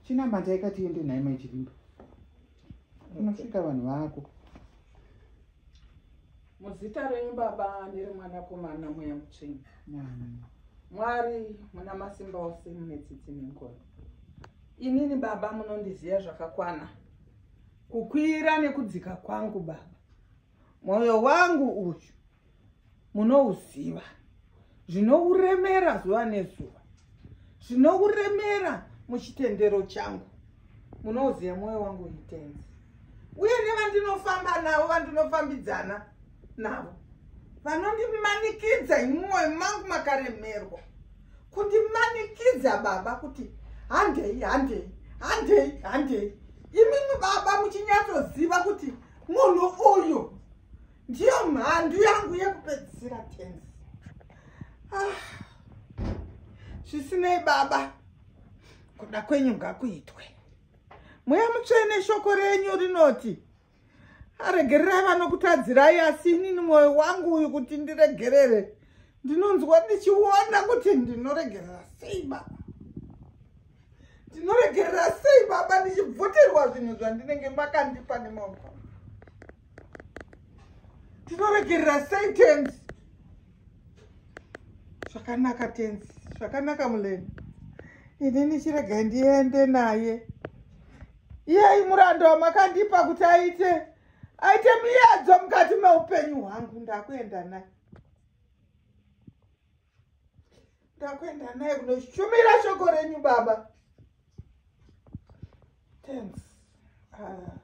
chinamata ikati yende nhai mai chivimba unosvika vanhu vako muzita renyu baba neremwanakomana mweya mutsveni mwari muna masimba ose mune tsitsi nengono inini baba munondiziva zvakakwana kukwira nekudzika kwangu baba mwoyo wangu uyu munouziva zvinouremera zuva nezuva zvinouremera muchitendero changu munouziva mwoyo wangu itenzi uye nevandinofamba navo vandinofambidzana navo vanondimanikidza imwoyo mangu makaremerwa kundimanikidza baba kuti handei handei handei handei imimi baba muchinyatsoziva kuti munhu uyu ndiyo mhandu yangu yekupedzisira tenzi ah. zvisinei baba kuda kwenyu ngakuitwe mweya mutsvene shoko renyu rinoti aregererai vanokutadzirai asi inini mwoyo wangu uyu kuti ndiregerere ndinonzwa ndichiona kuti ndinoregerera sei baba ndinoregerera sei baba ndichibvutirwa zvinhu zvandinenge makandipa nemaoko tinoregerera sei tenzi zvakanaka tenzi zvakanaka muleni ini ndichiregai ndiende naye iyai murando wamakandipa kuti aite aite muyedzo mukati meupenyu hwangu ndakuenda naye ndakuenda naye kunoshumira shoko renyu baba thanks ah.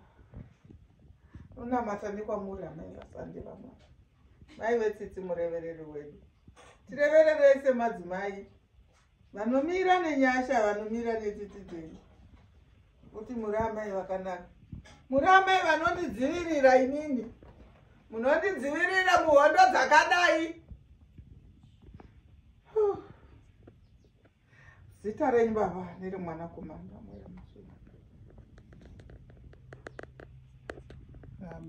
unamata nekwamuri amai vasande vamwa mai vetsitsi murevereri wedu tirevererese madzimai vanomira nenyasha vanomira netsitsi dzenyu kuti muri amai vakanaka muri amai vanondidzivirira inini munondidzivirira muhondo dzakadai zita renyu baba niri mwana kumanga mweya musina um,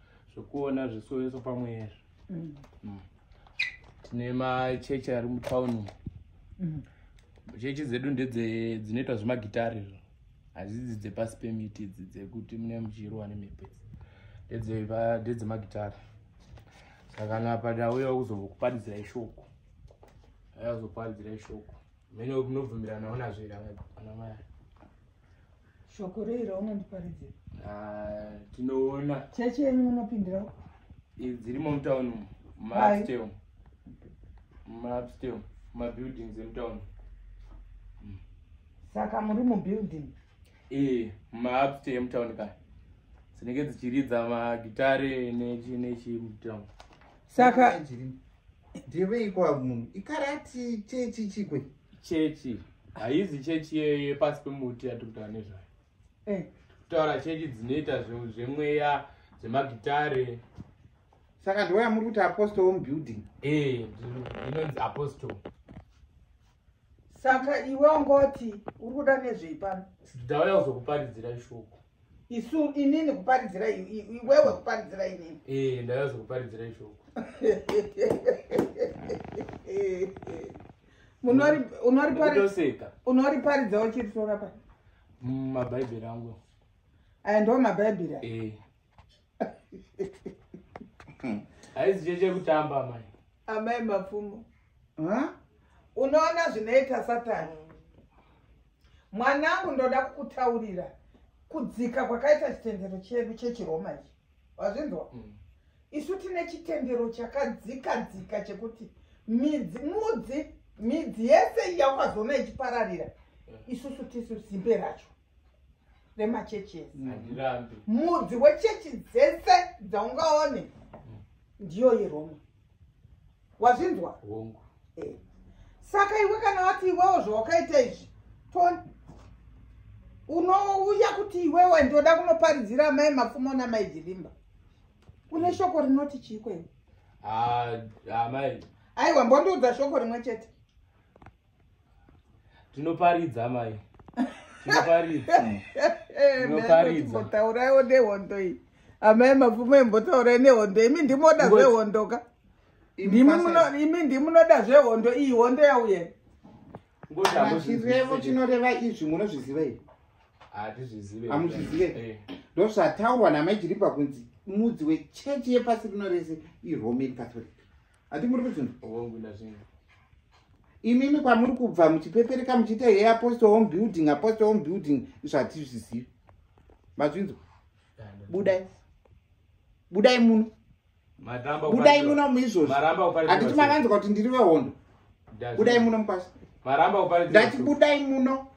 zvekuona zvisoeso pamwe ezvo mm. mm. tine machechi ari mutown mm. chechi dzedu ndedzinoitwa zvemagitari izvo hadzidzi dzepasi pemiti idzi dzekuti mune muchirwa nemhepo idzi ndedzemagitari saka napada uya kuzokuparidzira ishoko ayazokuparidzira ishoko mene munobvumiranawo nazvo ira anamai shoko rei raunondiparidzira ah, tinoona chechi yenyu munopindira dzirimo mutown maupstel maupstel mabuildings emutown hmm. saka muri mubuilding ee eh, maupstel emutown ka dzinenge dzichiridza magitare nechi nechi mutown saka ndeveiko vamunhu ikarati chechi chikwe chechi haizi chechi yepasi pemuti yatiri kutaura nezvayo eh. kutaura chechi dzinoita zvemweya zvemagitare saka ndiwaya muri kuti apostle home building eh, inonzi apostle saka iwe ungoti uri kuda nezvei pano ndauya kuzokuparidzira shoko isu inini kuparidzira iwewe kuparidzira inini ee eh, ndaiva zvekuparidzira ishoko unoriparidza uchiritora pa mm, mabhaibheri angu aya ndo mabhaibheri ee eh. haizi cheche kutamba amai amai mapfumo unoona zvinoita satani mwanangu ndoda kukutaurira kudzika kwakaita chitendero chedu chechiroma ichi wazvinzwa mm. isu tine chitendero chakadzika dzika chekuti midzi mudzi midzi yese yaukazoona ichipararira mm. isusu tisu zimbe racho remachechi ese mm. mudzi wechechi dzese dzaungaone mm. ndiyo yeroma wazvinzwa hongu eh. saka iwe kana wati iwewo zvawakaita izvi unouya kuti iwewe ndoda kunoparidzira amai mapfumo namai jirimba une shoko rinoti chiiko iwe ah, amai aiwa mbondiudza shoko rimwe chete tinoparidza mai tinoparidza tinoparidzauraiwo nehondo iyi amai mapfumo imbotaurai nehondo imi ndimoda zvehondo ka imi ndimunoda zvehondo iyi hondo yauye chirevo chinoreva izvi munozviziva ii hamuzvizive eh. ndozvataurwa namai jiripa kunzi mudzi wechechi yepasi rino rese iroman catholic hati muri kuzvinhu imimi kwamuri kubva muchipepereka muchiita hei apostle home building apostle home building zvatizvizivi mazvinzwa budai budai muno budai muno muizvozvi handiti makanzwa kuti ndiri vehondo budai muno mukwasha ndati budai muno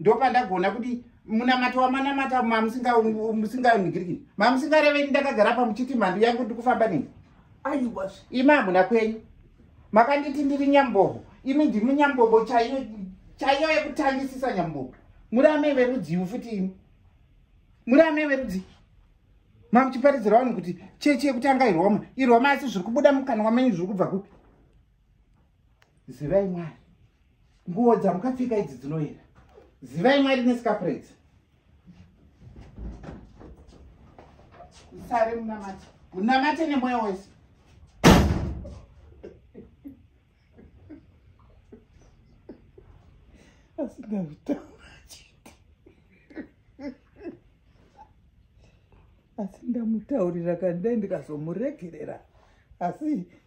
ndopandagona kuti munamato wamanamata mamusingamusingaigirikiri mamusingarevei ndakagara pa muchiti mhandu yangu ndikufamba nei aiwa imi hamuna kwenyu makanditi ndiri nyambobo imi ndimi nyambobo chaiyo chaiyo yekutangisisa nyambobo muri amai verudziu futi imi muri amai verudzii mamuchiparidzira vanhu kuti chechi yekutanga iroma iroma asi zviri kubuda mukanwa menyu zviri kubva kupi zivai mwari nguwo dzamukapfeka idzi dzinoyera zivai mwari nesikapuredzi musare munamate munamate nemweya wese asi ndamutaurira kandai ndikazomuregerera asi